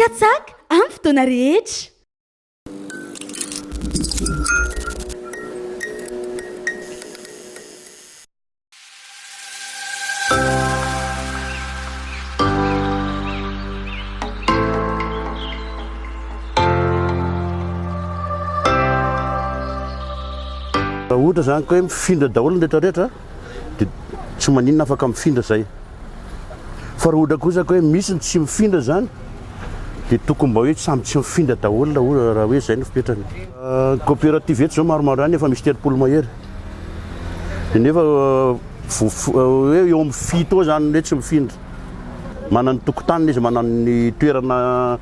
Katsaka amin'ny fotoana rehetra. Raha ohatra izany ka hoe mifindra daholo ny rehetrarehetra dia tsy maninona afaka mifindra zay. Fa raha ohatra kosa ka hoe misy ny tsy mifindra zany dia tokony mba hoe samy tsy mifindra daholo na ohatra raha hoe zay no fipetrany. Coopérative eto zao maromaro any efa misy telopolo mahery. Dia nefa hoe eo amin'ny fito eo zany hoe tsy mifindra. Manana ny tokotaniny izy, manana ny toerana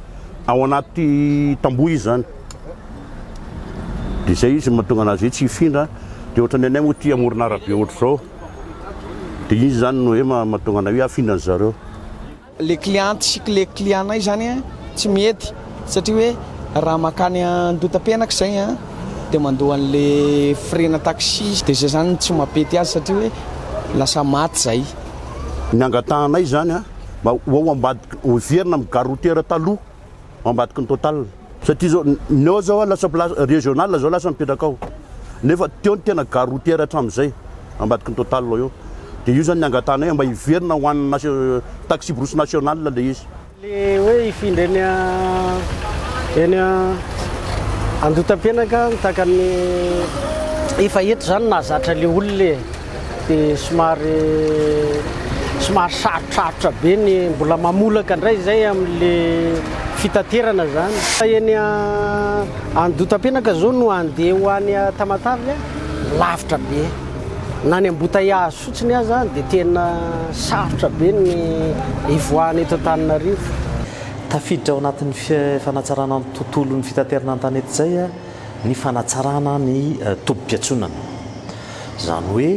ao anaty tamboho izy zany. Dia izay izy no mahatonga anazy hoe tsy hifindra. Dia ohatran'ny anay moa ity amorona arabe ohatr'izao. Dia izy izany no hoe mahatonga anay hoe hafindra ny zareo. Ilay cliente sy ilay client-nay izany tsy mety satria hoe raha mankany Andotapenaka izay dia mandoa an'ilay frais-na taxi. Dia izay izany no tsy mampety azy satria hoe lasa maty izay. Ny angatahanay izany mba ho ao ambadika, ho heverina amin'ny gare routière taloha. ao ambadiky ny total satria zao ny ao zao lasa place régional zao lasa mipetraka ao nefa teo ny tena gare routière hatramin'izay ambadiky ny total ao eo dia io zany ny angatahanay mba hiverina ho an'ny taxi brousse nationale ilay izy le hoe hifindra eny a eny a andotam-penaka ny takan'ny efa eto zany nahazatra le olona e dia somary somary sarotrarotra be ny mbola mamolaka indray izay amin'le fitaterana zany fa eny andotapenaka zao no andeha ho any tamatavy lavitra be na ny ambotaiazy fotsiny aza dia tena sarotra be ny ivoahana eto Antananarivo Tafiditra ao anatin'ny fanatsarana ny tontolon'ny fitaterana an-tanety izay ny fanatsarana ny tobim-piantsonana. Izany hoe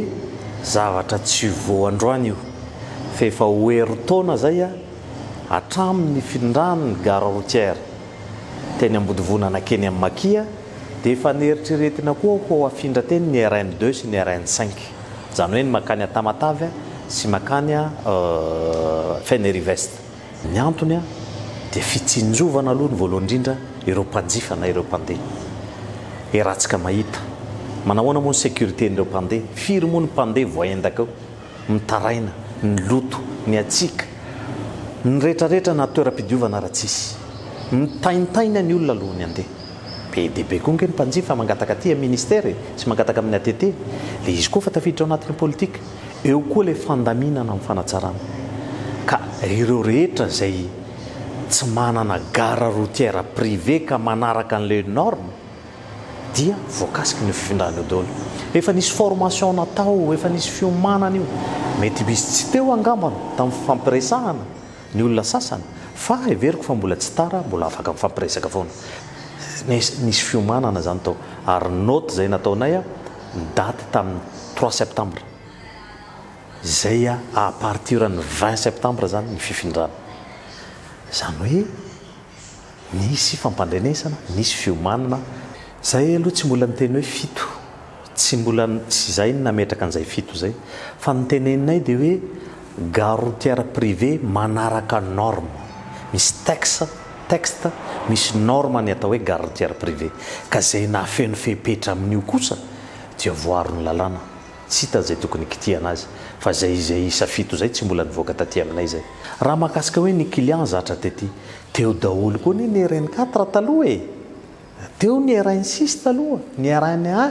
zavatra tsy vao androany io, fa efa ho herintaona izay hatramin' ny findran' ny gare routière teny Ambodivona nankeny amin'ny Makia, dia efa neritreretina koa ho hafindra teny ny RN deux sy ny RN cinq, izany hoe ny mankany Tamatave sy mankany Fenerive Est. Ny antony dia fitsinjovana aloha ny voalohany indrindra ireo mpanjifa na ireo mpandeha. Heratsika mahita. Manahoana moa ny sécurité-n'ireo mpandeha? Firy moa ny mpandeha voaendaka eo? Mitaraina, ny loto, ny hatsiaka, ny retraretra na toeram-pidiovana ary tsisy. Mitaintaina ny olona alohan'ny handeha. Be dia be koa ange ny mpanjifa mangataka aty amin'ny Ministère e, sy mangataka amin'ny ATT. Ilay izy koa efa tafiditra ao anatin'ny politique. Eo koa ilay fandaminana amin'ny fanatsarana ka ireo rehetra izay tsy manana gare routière privée ka manaraka ny les normes dia voakasiky ny fifindrana eo daholo. Efa nisy formation natao, efa nisy fiomanana io. Mety misy tsy teo angamba tamin'ny fifampiresahana ny olona sasany fa heveriko fa mbola tsy tara, mbola afaka mifampiresaka foana. Nisy fiomanana izany tao ary note izay nataonay. ny daty tamin'ny trois septembre izay a partir ny vingt septembre zany ny fifindrana zany hoe nisy fampandrenesana nisy fiomanana Zay aloha tsy mbola niteny hoe fito, tsy mbola tsy zay ny nametraka an'izay fito zay, fa ny teneninay dia hoe, Gare routière privée manaraka norme. Misy texte, texte, misy norme ny atao hoe gare routière privée. Ka izay nafeno fepetra amin'io kosa dia voaron'ny lalàna. Tsy hita izay tokony hikitihana azy. Fa izay izay isa fito izay tsy mbola nivoaka taty aminay izay. Raha mahakasika hoe ny client zatra tety, teo daholo koa anie ny RN4 taloha e! Teo ny RN6 taloha, ny RN1.